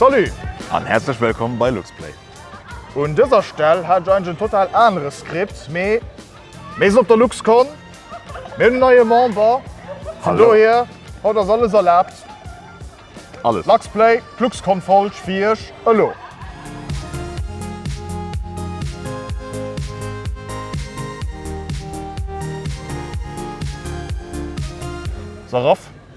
Salut an häerzlech wëllkomm bei LuxPlay! Un dëser Stell hat ech eigentlech en total anere Script, mee mir sinn op der LuxCon, mir hunn en neie Member, vun dohier haut ass alles erlaabt. Alles! LuxPlay, d'LuxCon-Folg fir Iech elo! Saraf,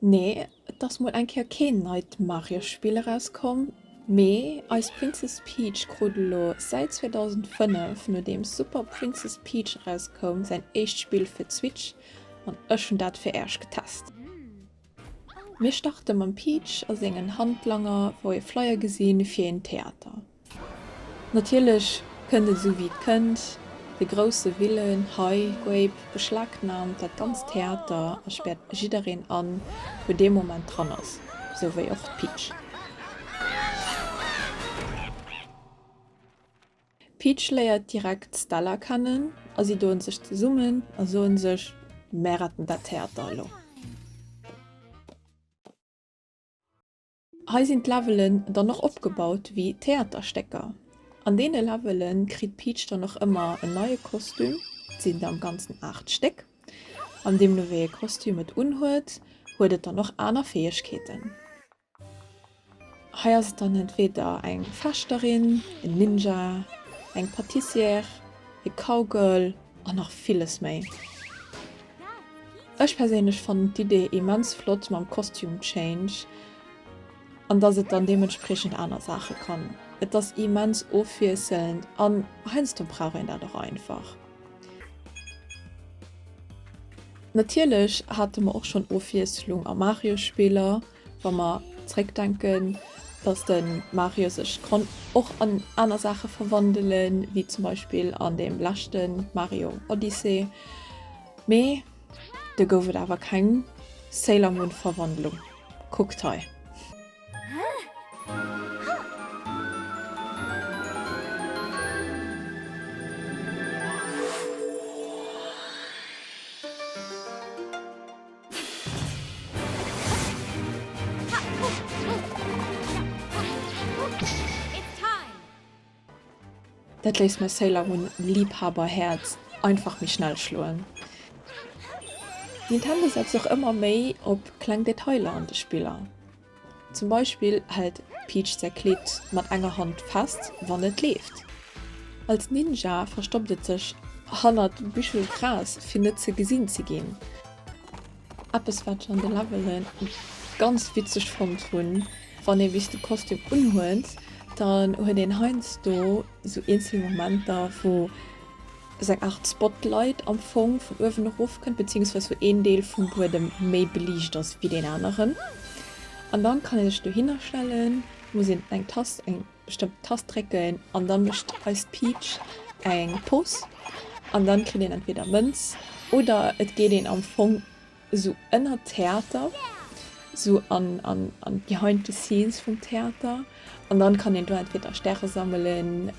Nee, et ass mol eng Kéier keen neit Mario-Spill erauskomm, mee eis Princess Peach krut elo säit 2005, nodeems Super Princess Peach erauskoum, säin éischt Spill fir d'Switch an ech hunn dat fir Äerch getest. Mir starte mam Peach a sengen Handlanger, wou ee Flyer gesinn fir een Theater. Natierlech kënnt et esou wéi et kënnt, de grousse Willen hei goip beschlagnaamt dat ganzt Theater a späert jiddereen an, wou dee Moment dran ass, esou wéi och d'Peach. D'Peach léiert direkt d'Stella kennen a si doen sech zesummen a soen sech, Mär retten dat Theater elo. Hei sinn d'Levelen dann och opgebaut wéi Theaterstécker. An deene Levele kritt d'Peach dann och ëmmer en neie Kostüm. Et sinn der am Ganzen 8 Stéck. An deemno wéi ee Kostüm et unhuet, huet et dann och aner Fäegkeeten. Hei ass et dann entweeder eng Fechterin, en Ninja, eng Patissière, e Cowgirl An nach villes méi. Ech perséinlech fannen d'Idee immens flott mam Costume Change an dass et dann deementspriechend aner Saache kann. Et ass immens ofwiesselnd an heiansdo brauch een dat och einfach. Natierlech hate mer och schonn Ofwiesselung a Mario-Spiller. Wa mer zréckdenken, dass de Mario sech konnt och an aner Saache verwandelen, wéi zum Beispill an deem leschte Mario Odyssey, mee do gouf et awer keng Sailor Moon Verwandlung, kuckt hei. Dat léisst mäi Sailor Moon Liebhaberhäerz einfach méi schnell schloen. Nintendo setzt och ëmmer méi op kleng Detailer an de Spiller. Zum Beispill hält Peach säi Kleed mat enger Hand fest, wann et leeft. Als Ninja verstoppt et sech hannert Büschel Gras, fir net ze gesinn ze ginn. Eppes wat ech an de Levelen ganz witzeg fonnt hunn, wann ee bis de Kostüm unhuet, dann huet een heiansdo sou eenzel Momenter wou sou eng Art Spotlight am Fong vun uewen erof kënnt, beziehungsweise wou een Deel vum Buedem méi beliicht ass wéi deen aneren. An dann kann een sech dohinner stellen, muss een eng Tast, eng bestëmmten Tast drécken an dann mécht eist Peach eng Pose an dann kritt een entweder Mënz oder et geet een am Fong Esou ënnert Theater, esou an behind the scenes vum Theater. An dann kann een do entweder Stäre sammelen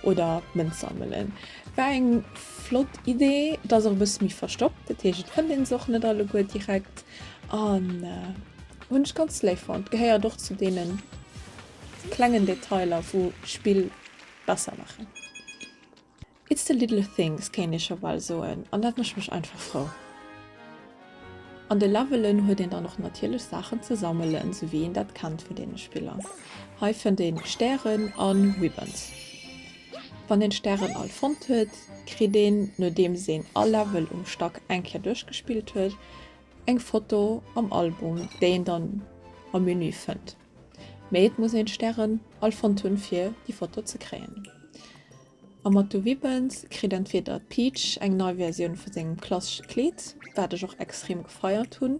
oder Mënz sammelen. War eng flott Idee. Et ass och e bësse méi verstoppt, dat heescht et fënnt een se och net alleguer direkt. An hunn ech ganz léif fonnt. Gehéiert och zu deene klengen Detailer wou Spill besser maachen. It's the little things kéint ee scho bal soen, an dat mécht mech einfach frou. An de Levelen huet een dann och natierlech Saachen ze sammelen, sou wéi een dat kennt vun deene Spiller. Hei fënnt ee Stären an Ribbons. Wann een d'Stären all fonnt huet, kritt een, nodeems een all Level um Stack eng Kéier duerchgespillt huet, eng Foto am Album, déi een dann am Menü fënnt. Mee et muss een Stären all fonnt hunn fir déi Foto ze kréien. Am Matto Wibbens kritt entweder d'Peach eng nei Versioun vu sengem klassesche Kleed, wat ech och extrem gefeiert hunn,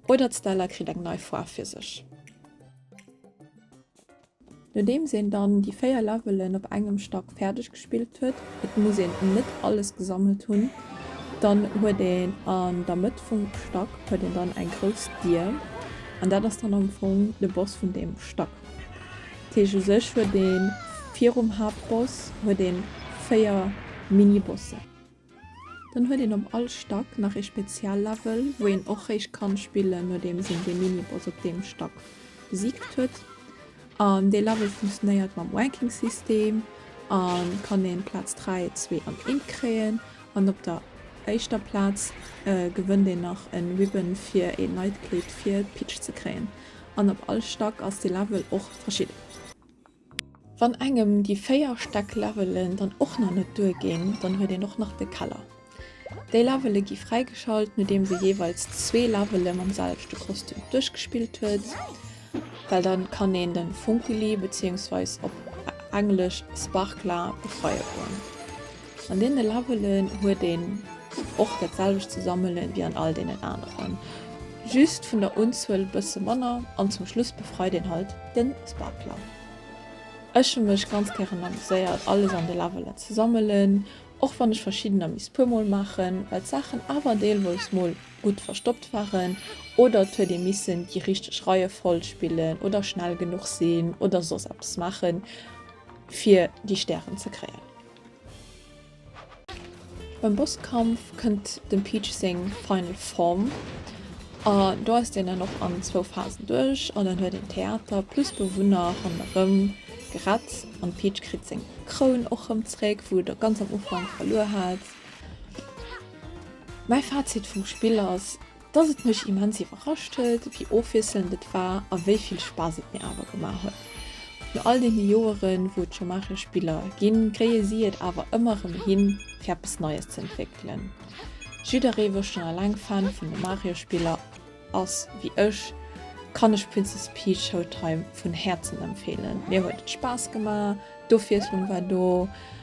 oder d'Stella kritt eng nei Foarf fir sech. Nodeems een dann déi 4 Levelen op engem Stack fäerdeg gespillt huet, et muss een net alles gesammelt hunn, dann huet een an der Mëtt vum Stack huet een dann eng grouss Dier an dat ass dann am Fong de Boss vun deem Stack. Dat heescht u sech huet ee virum Haaptboss huet ee véier Mini-Bossen. Dann huet een op all Stack nach ee Spezial-Level, wou een och héich kann spillen, nodeems een dee Mini-Boss op deem Stack besiegt huet. An dee Level funktionéiert mam Ranking-System an kann een Platz 3, 2 an 1 kréien. An op der éischter Platz gewënnt een nach en Ribbon fir een neit Kleed fir d'Peach ze kréien. An op all Stack ass dee Level och verschidden. Wann engem déi 4 Stäck Levelen dann och nach net duer ginn, dann huet een och nach de Keller. Déi Levele gi fräigeschalt nodeems ee jeeweils zwee Levele mam selwechte Kostüm duerchgespillt huet, well dann kann een de Funkylli, beziéungsweis op englesch Sparkla, befreie goen. An deene Labelen huet een och dat selwecht ze sammelen wéi an all deenen aneren, just vun der Unzuel e bësse manner an zum Schluss befreit een halt den Sparkler. Ech hu mech ganz gären amuséiert alles an de Labelen ze sammelen, och wann ech verschiddener misst puer mol maachen, well d'Saachen awer deelweis mol gutt verstoppt waren oder et huet ee missen déi richteg Reiefolg spillen oder schnell genuch sinn oder soss eppes maachen fir déi Stären ze kréien. Beim Bosskampf kënnt dem Peach seng Final Form a do eisst een dann och an zwou Phasen duerch an dann huet een Theater plus Bewunner ronderëm gerett an de Peach kritt seng Kroun och rëm zréck wou et ganz am Ufank verluer hat. Mäi Fazit vum Spill ass, Dass et mech immens iwwerrascht huet, wéi ofwiesselnd et war a wéi vill Spaass et mir awer gemaach huet. No all deene Joeren, wou et scho Maarcher Spiller ginn, kréie si et awer ëmmer erëm hin, fir eppes Neies ze entwéckelen. Jidderee, wou schonn eleng Fan vun de Mario Spiller ass wéi ech, kann lech Princess Peach Showtime vun Häerzen empfeelen. Mir huet et Spaass gemaach, d'Ofwiesslung war do.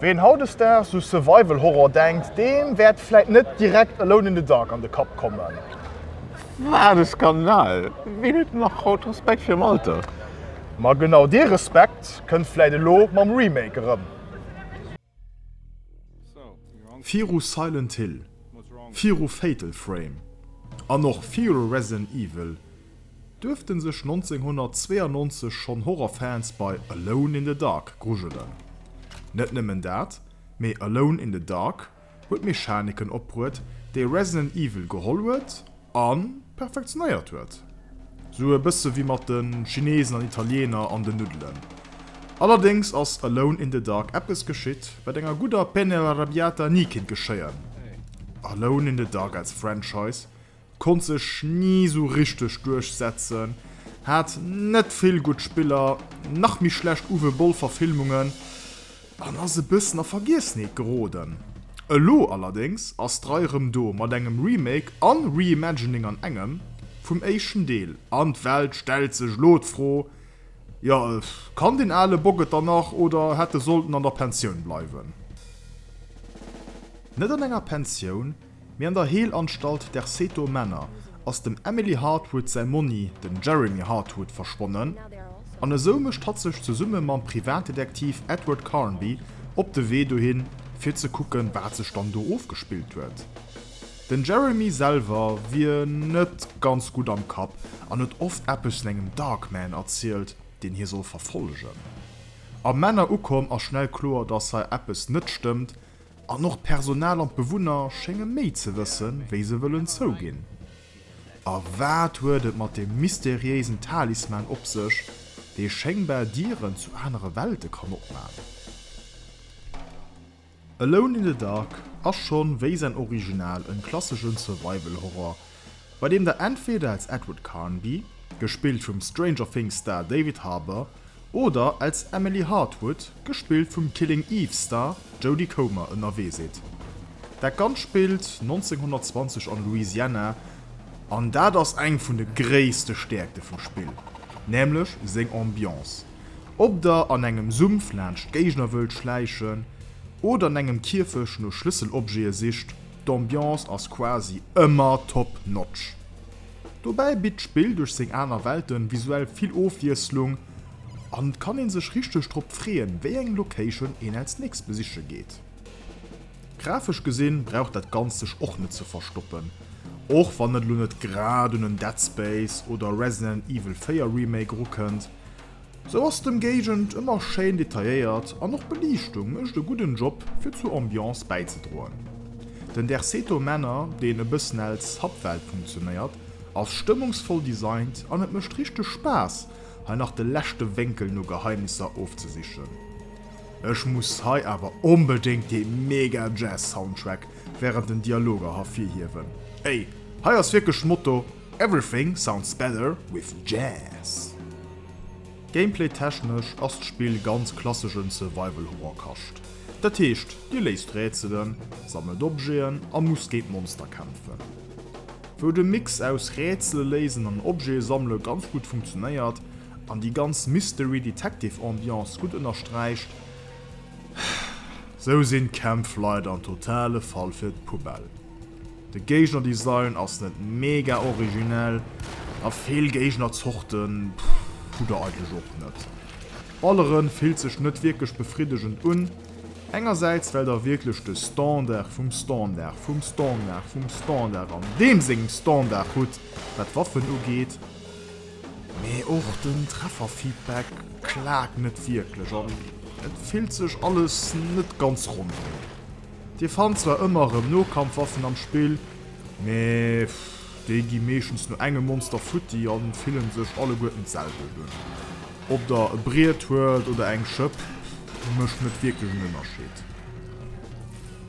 Ween hautdesdaags u Survival Horror denkt, deem wäert vläit net direkt Alone in the Dark an de Kapp kommen. Wat e Skandal! Ween huet nach haut Respekt virum Alter? Ma genau dee Respekt kënnt vläit elo mam Remake erëm. Viru Silent Hill, viru Fatal Frame an och viru Resident Evil duerfte sech 1992 schonn Horrorfans bei Alone in the Dark grujelen. Net nëmmen dat, mee Alone in the Dark huet Mechaniken opbruet, déi Resident Evil geholl huet A perfektionéiert huet. Sou e bësse wéi mat de Chinesen an Italiener an den Nuddelen. Allerdéngs ass Alone in the Dark eppes geschitt, wat enger gudder Penne alla Rabbiata ni kinnt geschéien, Alone in the Dark als Franchise konnt sech ni sou richteg duerchsetzen, hat net vill gutt Spiller, nach méi schlecht Uwe Boll-Verfilmungen. An ass e bëssen a Vergiessenheet geroden. Elo allerdéngs ass d'Rei rëm do mat engem Remake an Reimagining an engem vum éischten Deel. An d'Welt stellt sech elo d'Fro, jo, kann deen ale Bock et dann nach oder hätt e sollten an der Pensioun bleiwen? Net an enger Pensioun. Mee an der Heelanstalt der Seto Manor ass dem Emily Hartwood säi Monni, den Jeremy Hartwood, verschwonnen, an esou mécht hatt sech zesumme mam Privatdetektiv Edward Carnby op de Wee dohin, fir ze kucken, wat sech dann do ofgespillt huet. Den Jeremy selwer wier net ganz gutt am Kapp an huet oft eppes vun engem Darkman erzielt, deen hie soll verfollegen. Am Manor ukomm ass schnell kloer, dass hei eppes net stëmmt, An och d'Personal an d'Bewunner schénge méi ze wësse wéi se wëllen zouginn. A wat huet et mat deem mysteriéisen Talisman op sech, dee schéngbar Dieren zu anere Welte kann opman? Alone in the Dark ass schonn wéi säin Original en klasseschen Survival-Horror, bei deem der entweder als Edward Carnby, gespillt vum Stranger Things Star David Harbour, oder als Emily Hartwood, gespillt vum Killing Eve Star Jodie Comer, ënnerwee sidd. Dat Ganzt spillt 1920 an Louisiana, an dat ass eng vun de gréisste Stäerkte vum Spill, nämlech seng Ambiance. Ob der an engem Sumpf laanscht Géigner wëllt schläichen oder an engem Kierfech no Schlësselobjete sicht, D'Ambiance ass quasi ëmmer top notch. Dobäi bitt d'Spill duerch seng aner Welten visuell vill Ofwiesslung an et kann een sech richteg drop freeën, wéi eng Location een als nächst besiche geet. Grafesch gesinn brauch dat Ganzt sech och net ze verstoppen, och wann et elo net grad un en Dead Space oder Resident Evil 4 Remake erukënnt, Sou ass d'Ëmgéigend ëmmer schéin detailléiert an och d'Beliichtung mécht e gudden Job fir zur Ambiance bäizedroen. Den Derceto Manor, deen e bëssen als Subwelt funktionéiert, ass stëmmungsvoll designt an et mécht richteg Spaass hei nach de leschte Wénkel no Geheimnisser ofzesichen. Ech muss hei awer onbedéngt dee mega Jazz Soundtrack während den Dialoger hervirhiewen. Ey, hei ass wierklech Motto, Everything sounds better with jazz. Gameplay technesch ass d'Spill ganz klasseschen Survival Horror Kascht. Dat heescht dir léist Rätselen, sammelt Objeten a musst géint Monster kämpfen. Wou de Mix aus Rätsele léisen an Objete sammele ganz gutt funktionéiert an déi ganz Mystery Detective Ambiance gutt ënnersträicht, sou sinn d'Kämpf leider en totale Fall fir d'Poubelle. De Géigner-Design ass net mega originell a vill Géigner-Zorten hu der eigentlech och net. Balleren fillt sech net wierklech befriddegend un, engersäits well der wierklech de Standard vum Standard vum Standard vum Standard an deem sengem Standard hutt wat Waffen ugeet, mee och den Treffer-Feedback klaakt net wierklech an et fillt sech alles net ganz ronderëm. Dir fannt zwar ëmmer erëm Nokampfwaffen am Spill, mee déi gi meeschtens no engem Monster futti an fillen sech alleguerten d'selwelt un. Ob der e Briet huet oder eng Schëpp, mécht net wierklech en Ënnerscheed.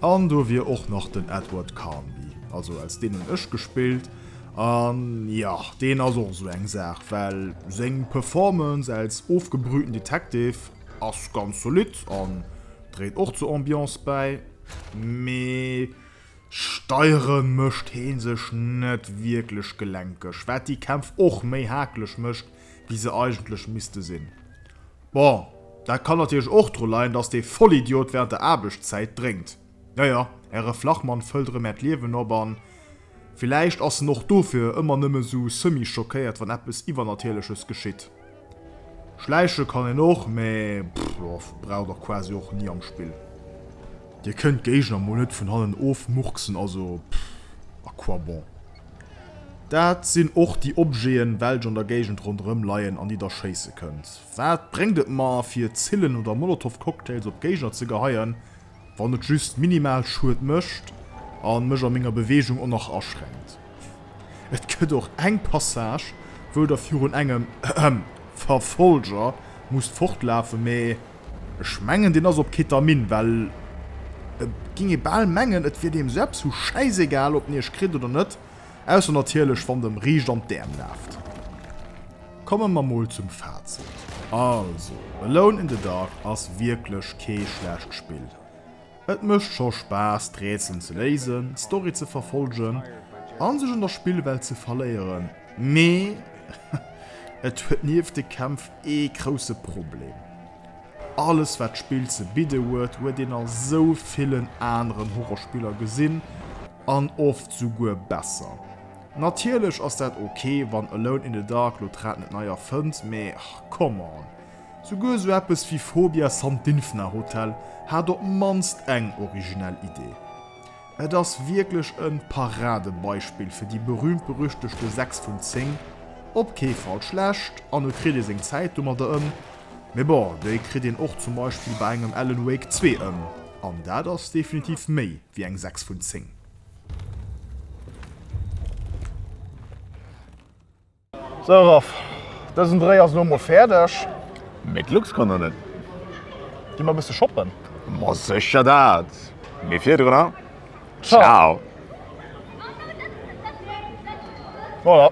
An do wier och nach den Edward Carnby, also als deen hunn ech gespillt, an jo, deen ass och esou eng Saach, well seng Performance als ofgebrühten Detective, Ass ganz solid an dréit och zur Ambiance bäi, mee steieren mécht heen sech net wierklech gelenkeg, wat déi Kämpf och méi haaklech mécht wéi se eigentlech misste sinn. Bon, dat kann natierlech och dru leien, dass dee Vollidiot während der Aarbechtszäit drénkt. Jo jo, äre Flachmann fëllt erëm Äert Liewen op an villäicht ass en och dofir ëmmer nëmme sou semi-schockéiert, wann eppes Iwwernatierleches geschitt. Schläiche kann een och, mä pff, brauch der quasi och ni am Spill. Dir kënnt d'Géigner mol net vun hannen ofmurksen, also pff, à quoi bon? Dat sinn och déi Objeten, welch an der Géigend ronderëm leien, an déi der schéisse kënnt. Wat bréngt et mer, fir Zillen oder Molotov-Cocktails op d'Géigner ze geheien, Wann et just minimal Schued mécht an mech a menger Bewegung och nach aschränkt. Et gëtt och eng Passage wou der virun engem Verfolger musst fortlafen, mee ech mengen deen ass op Ketamin, well et ging ee bal mengen et wier deem sou eppes vu schäisegal op en iech kritt oder net. Ausser natierlech wann de em riicht an d'Äerm laaft. Komme mer mol zum Fazit. Also, Alone in the Dark ass wierklech kee schlecht Spill. Et mécht scho Spaass d'Rätselen ze léisen, d'Story ze verfollgen an sech an der Spillwelt ze verléieren, mee et huet nieft de Kämpf ee grousse Problem. Alles wat d'Spill ze bidde huet, huet een a sou villen aneren Horrorspiller gesinn, an oft souguer besser. Natierlech ass dat ok wann Alone in the Dark lo d'Rad net nei erfënnt, mee come on. Souguer sou eppes wéi Phobia Sandinfna Hotel hat op mannst eng originell Idee. Et ass wierklech e Paradebeispill fir déi berühmt-berüchtegte 6 vun 10, op kee Fall schlecht, an e kritt ee seng Zäit domadder ëm. Mee bon, déi kritt een och zum Beispill bei engem Alan Wake 2 ëm, an dat ass definitiv méi wéi eng 6 vun 10. Sou Raph, dësen Dréi ass elo mol fäerdeg. Mee d'Lux kann nach net. Gi mer bësse shoppen? Ma sécher dat! Mee virdrunner, Ciao! Voilà.